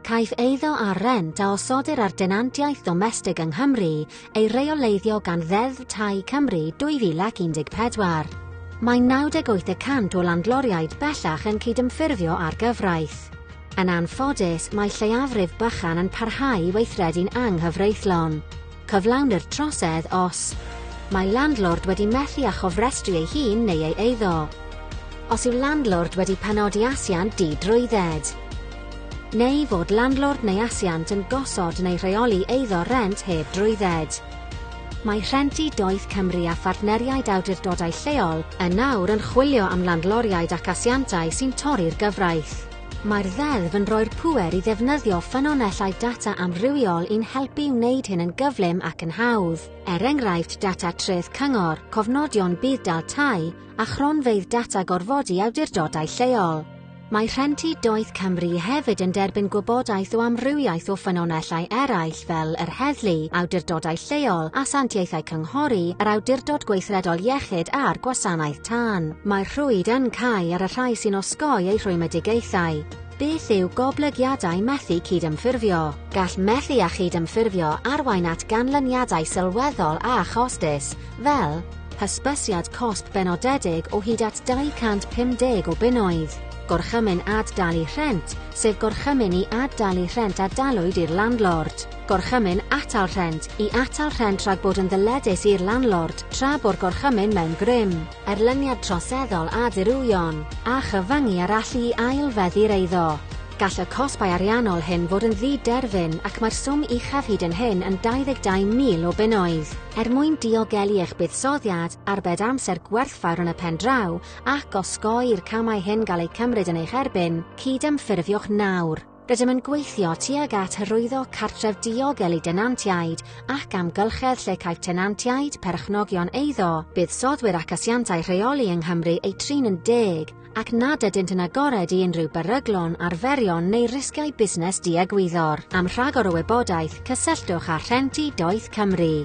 Caiff eiddo ar rent a osodir ar denantiaeth ddomestig yng Nghymru ei reoleiddio gan Ddeddf Tai Cymru 2014. Mae 98 y cant o landloriaid bellach yn cydymffurfio â'r gyfraith. Yn anffodus, mae lleiafrif bychan yn parhau i weithredu'n anghyfreithlon. Cyflawnir trosedd os Mae landlord wedi methu â chofrestru ei hun neu ei eiddo. Os yw landlord wedi penodi asiant di-drwydded. Neu fod landlord neu asiant yn gosod neu rheoli eiddo rent heb drwydded. Mae Rhentu Doeth Cymru a phartneriaid awdurdodau lleol yn nawr yn chwilio am landloriaid ac asiantau sy'n torri'r gyfraith. Mae'r Ddeddf yn rhoi'r pŵer i ddefnyddio ffynonellau data amrywiol i'n helpu i wneud hyn yn gyflym ac yn hawdd, er enghraifft data treth cyngor, cofnodion budd-dal tai, a chronfeydd data gorfodi awdurdodau lleol. Mae Rhentu Doeth Cymru hefyd yn derbyn gwybodaeth o amrywiaeth o ffynonellau eraill fel yr heddlu, awdurdodau lleol, asiantaethau cynghori, yr Awdurdod Gweithredol Iechyd a'r Gwasanaeth Tan, mae rhwyd yn cau ar y rhai sy'n osgoi eu rhwymedigaethau. Beth yw goblygiadau methu cydymffurfio? Gall methu â chydymffurfio arwain at ganlyniadau sylweddol a chostus, fel, hysbysiad cosb benodedig o hyd at 250 o bunnoedd, gorchymyn ad-dalu rhent, sef gorchymyn i ad-dalu rhent a dalwyd i'r landlord, Gorchymyn Atal Rhent, I atal rhent rhag bod yn ddyledus i'r landlord, tra bo'r gorchymyn mewn grym, erlyniad troseddol a dirywio'n a chyfyngu ar allu i ail-feddu'r eiddo. Gall y cosbau ariannol hyn fod yn ddi-derfyn ac mae'r swm uchaf hyd yn hyn yn 22,000 o bunnoedd. Er mwyn diogelu eich buddsoddiad, arbed amser gwerthfawr yn y pen draw ac osgoi i'r camau hyn gael eu cymryd yn eich erbyn, cydymffurfiwch nawr. Rydym yn gweithio tuag at hyrwyddo cartref diogel i denantiaid ac amgylchedd lle caiff tenantiaid, perchnogion eiddo, buddsoddwyr ac asiantau rheoli yng Nghymru eu trin yn deg ac nad ydynt yn agored i unrhyw beryglon, arferion neu risgiau busnes diegwyddor. Am rhagor o wybodaeth, cysylltwch â Rhenti Doeth Cymru.